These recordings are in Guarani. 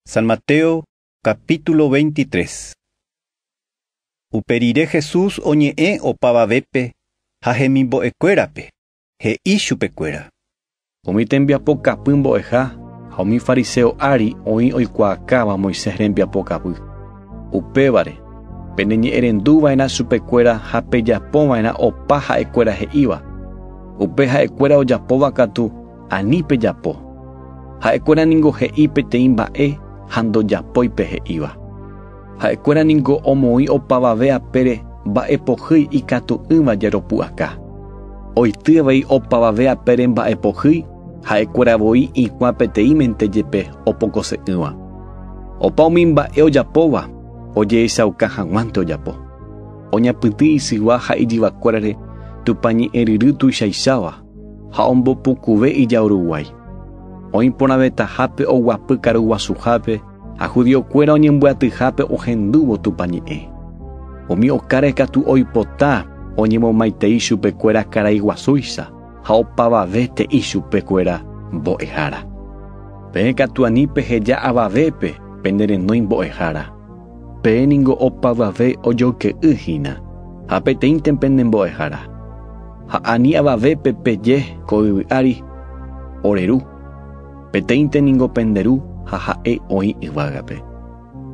San Mateo capítulo 23 Upe rire Jesús oñe'ẽ opavavépe ha hemimbo'ekuérape, he'i chupekuéra. Umi tembiapo kapy mbo'eha ha umi fariseo ári oĩ oikuaakáva Moisés rembiapo kapy. Upévare, peneñe'ẽrendu va'erã chupekuéra ha pejapo va'erã opa ha'ekuéra he'íva. Upe ha'ekuéra ojapóva katu Ani pejapo. Ha'ekuéra ningo he'i peteĩ mba'e ha ndojapói pe he'íva. Ha'ekuéra ningo omoĩ opavave apére mba'epohýi ikatu'ỹva jeropu'aka. Oity avei opavave apére mba'epohýi ha'ekuéra voi ĩkuã peteĩmente jepe opokose'ỹva. Opa umi mba'e ojapóva ojehechauka haguãnte ojapo. Oñapytĩ isygua ha ijyvakuérare Tupã ñe'ẽryry tuichaicháva. Ha ombopukuve ijauruguái. Oĩ porãvetahápe oguapy karuguasuhápe ha judiokuéra oñembyatyhápe ohendúvo Tupã ñe'ẽ. Umi okáre katu oipota oñemomaitei chupekuéra karai guasúicha ha opavave te'i chupekuéra mbo'ehára. Peẽ katu ani peheja avavépe pene renói mbo'ehára. Peẽ ningo opavave ojoyke'y hína, ha peteĩnte pende mbo'ehára. Ha ani avavépe peje ko yvy ári, Ore ru, peteĩnte ningo pende ru ha ha'e oĩ yvágape.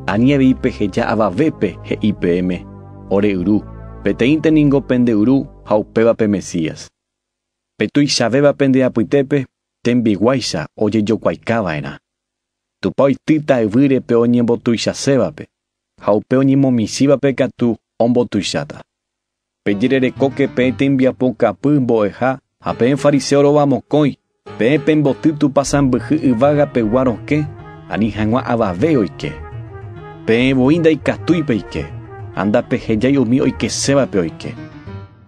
Ani avei peheja avavépe he'i peẽme, Ore yru, peteĩnte ningo pende yru ha upéva pe Mesías. Pe tuichavéva pende apytépe tembiguáicha ojejokuaikava'erã. Tupã oitýta yvýre pe oñembotuichasévape, ha upe oñemomichĩvape katu ombotuicháta. Pejererekóke peẽ tembiapo kapy mbo'eha ha peẽ fariseo rova mokõi, peẽ pemboty Tupã sãmbyhy yvága pegua rokẽ ani hag̃ua avave oike. Peẽ voi ndaikatúi peike, ha ndapehejái umi oikesévape oike.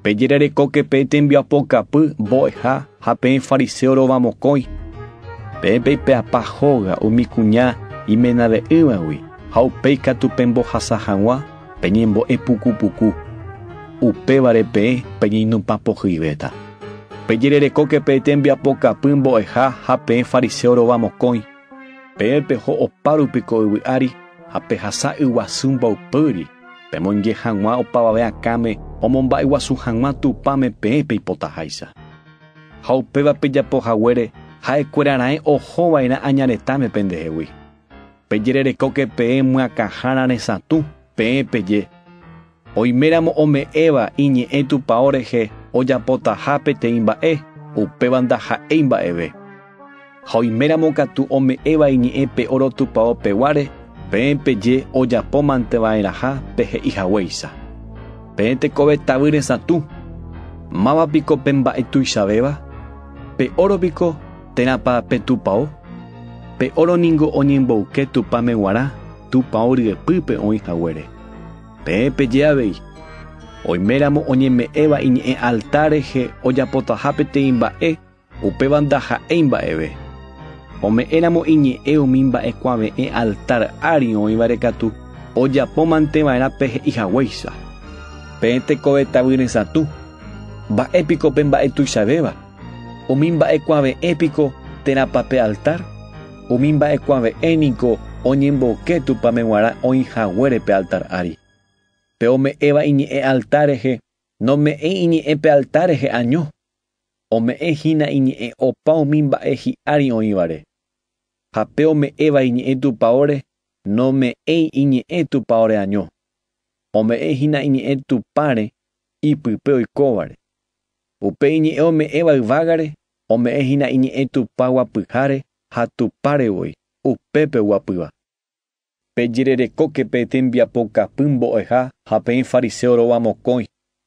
Pejererekóke peẽ tembiapo kapy mbo'eha ha peẽ fariseo rova mokõi. Peẽ peipe'apa hóga umi kuña imenave'ỹvagui ha upéi katu pembohasa hag̃ua peñembo'e puku puku. Upévare peẽ peñeinumpa pohyivéta. Pejererekóke peẽ tembiapo kapy mbo'eha ha peẽ fariseo rova mokõi. Peẽ peho opárupi ko yvy ári ha pehasa yguasu mboypýri. Pemonje hag̃ua opavave akãme omomba'eguasu hag̃ua Tupãme peẽ peipotaháicha. Ha upéva pejapo haguére ha'ekuéra raẽ oho va'erã aña retãme pendehegui. Pejererekóke peẽ myakãhára resatũ peẽ peje, oiméramo ome'ẽva iñe'ẽ Tupao rehe ojapotaha peteĩ mba'e, upéva ndaha'éi mba'eve. Ha oiméramo katu ome'ẽva iñe'ẽ pe óro tupao peguáre, peẽ peje ojapómante va'erãha pe he'i haguéicha. Peẽ tekove tavy resãtu! Máva piko pe mba'e tuichavéva? Pe óro piko, térãpa pe tupao? Pe óro ningo oñemboyke Tupãme g̃uarã tupao ryepýpe oĩ haguére. Peẽ peje avei, Oiméramo oñeme'ẽva iñe'ẽ altar rehe ojapotaha peteĩ mba'e, Upéva ndaha'éi mba'eve. Ome'ẽramo iñe'ẽ umi mba'ekuave'ẽ altár ári oĩvare katu ojapómanteva'erã pe he'i haguéicha. Peẽ tekove tavy resãtu, mba'e piko pe mba'e tuichavéva? Umi mba'ekuave'ẽ piko térãpa pe altár? Umi mba'ekuave'ẽ niko oñemboke Tupãme g̃uarã oĩ haguére pe altár ári. Pe ome'ẽva iñe'ẽ altár rehe nome'ẽi iñe'ẽ pe altár rehe año. ome'ẽ hína iñe'ẽ opa umi mba'e hi'ári oĩvare. Ha pe ome'ẽva iñe'ẽ tupaóre nome'ẽi iñe'ẽ tupaóre año, ome'ẽ hína iñe'ẽ Tupãre ipype oikóvare. Upe iñe'ẽ ome'ẽva yvágare ome'ẽ hína iñe'ẽ Tupãgua pyhare ha Tupãre voi, upépe oguapýva. Pejererekóke pe tembiapo kapy mbo'eha ha peẽ fariseo róva mokõi,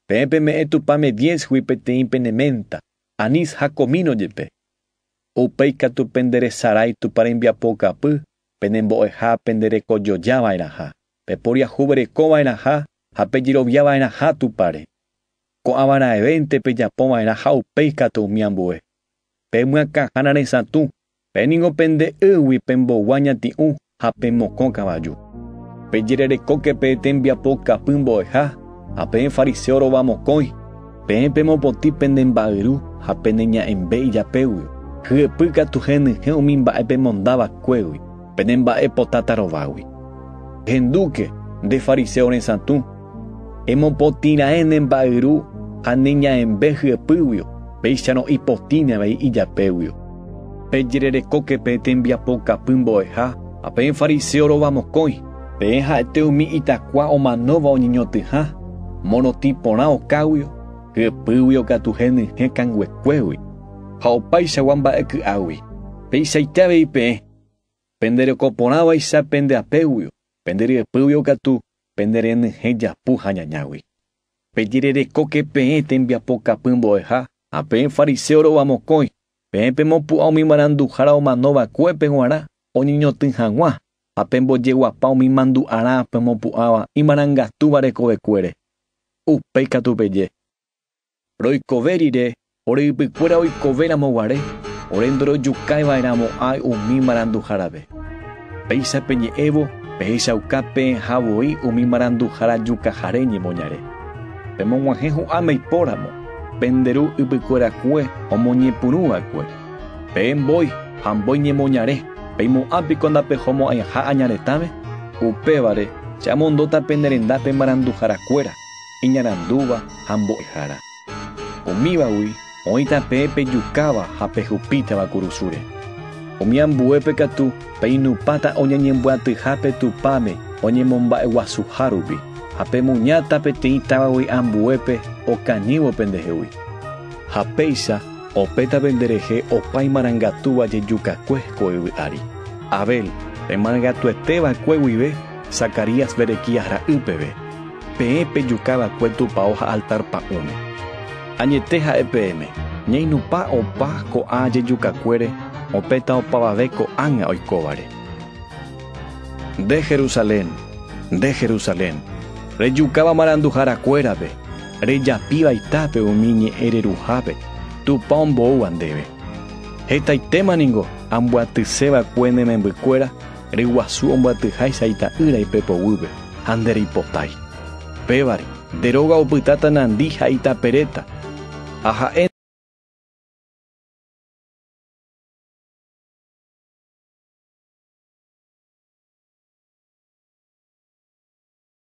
peẽ peme'ẽ tupãme diézgui peteĩ pene ménta, anís ha komíno jepe. Upéi katu pende resarái Tupã rembiapo kapy penembo'eha pende reko joja va'erãha, peporiahuvereko va'erãha ha pejerovia va'erãha Tupãre. Ko'ã va'erãevénte pejapo va'erã ha upéi katu umi ambue. Pemyakãhána resãtũ Pe ningo pende ýgui pembogua ñati'ũ ha pemokõ kavaju. Pejererekóke pe tembiapo kapỹ mbo'eha ha peẽ fariseo rova mokõi, peẽ pemopotĩ pende mba'yru ha pene ña'ẽmbe ijapégui, hyepy katu henyhẽ umi mba'e pemonda vakuégui, pene mba'e potáta rovágui. Ehendúke, nde fariseo resãtũ! Emopotĩ raẽ ne mba'yru ha ne ñaembe hyepýguio, péicharõ ipotĩne avei ijapéguio. Pejererekóke peẽ tembiapo kapy mbo'eha ha peẽ fariseo rova mokõi, peẽ ha'ete umi itakua omanóva oñeñotỹha, morotĩ porã okáguio, hyepýguio katu henyhẽ kanguekuégui, ha opaichagua mba'e ky'águi. Peichaite avei peẽ, pende reko porãvaicha pende apéguio, pende ryepýguio katu Pene renyhẽ japu ha ñañágui. Pejererekóke peẽ tembiapokapy mbo'eha ha peẽ fariséo rova mokõi, peẽ pemopu'ã umi maranduhára omano vakuépe g̃uarã oñeñotỹ hag̃ua, ha pembojeguapa umi mandu'arã pemopu'ãva imarangatúva rekovekuére. Upéi katu peje. Roikove rire, ore ypykuéra oikove ramo guare, ore ndorojukái vae ramo áy umi maranduhára ve. Péicha peñe'ẽvo, pehechauka peẽha voi umi maranduhára jukahare ñemoñare. Pemoguahẽ hu'ãme ipóramo, pende ru ypykuerakue omoñepyrũ vaekue. Peẽ mbói ha mbói ñemoñare, peimo'ã piko ndapehomo'ãiha aña retãme? Upévare, che amondóta pene rendápe maranduhára kuéra. iñarandúva ha mbo'ehára. Umívagui oĩ tape pejukáva ha pehupítava kurusúre. Umi ambuépe katu peinupãta oñeñembyatyha pe Tupãme oñemomba'eguasuha rupi, ha pemuñáta peteĩ távagui ambuépe okañývo pendehegui. Ha péicha opéta penderehe opa imarangatúva jejukakue ko yvy ári. Abel, pe marangatuete va'ekue guive, Zacarías Berequías ra'y peve. Peẽ pejuka va'ekue tupao ha altar pa'ũme. Añete ha'e peẽme, ñainupã opa ko'ã jejukakuére opéta opavave ko'ág̃a oikóvare. Nde Jerusalén, nde Jerusalén, rejukáva maranduharakuérape, rejapíva itápe umi ñe'ẽ reruhápe Tupã omboúva ndéve! Hetaitéma ningo ambyatyse va'ekue ne membykuéra, Ryguasu ombyatyháicha ita'ýra ipépe guýpe, ha ndereipotái. Pévare, nde róga opytáta nandi ha itaperéta, ha ha'e.